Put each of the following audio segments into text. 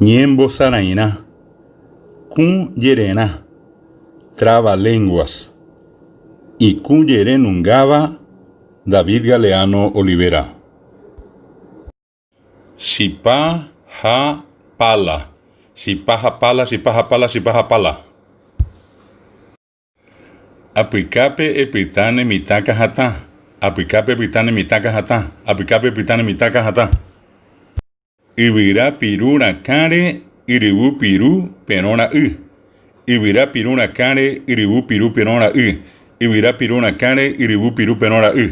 Ñembosarãirã, kũ jererã, traba lenguas, ikũ jerenungáva David Galeano Olivera. Chipa ha pala, chipa ha pala, chipa ha pala, chipa ha pala. Apykápe epyta ne mitã kahatã. Apykápe epyta ne mitã kahatã. Apykápe epyta ne mitã kahatã. Yvyra piru rakãre yryvu piru perõ ra'y. Yvyra piru rakãre yryvu piru perõ ra'y. Yvyra piru rakãre yryvu piru perõ ra'y.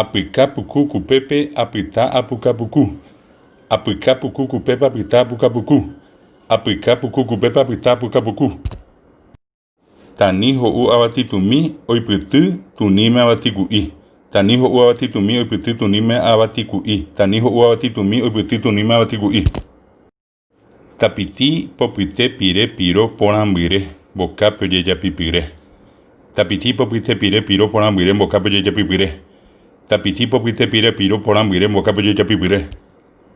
Apyka puku kupépe apyta apuka puku. Apyka puku kupépe apyta apuka puku. Apyka puku kupépe apyta apuka puku. Tani ho'u avati tumi oipyty tuníme avati ku'i. Tani ho'u avati tumi oipyty tuníme avati ku'i. Tani ho'u avati tumi oipyty tuníme avati ku'i. Tapiti popyte pire piro porãmbyre mbokápe ojejapipyre. Tapiti popyte pire piro porãmbyre mbokápe ojejapipyre. Tapiti popyte pire piro porãmbyre mbokápe ojejapipyre.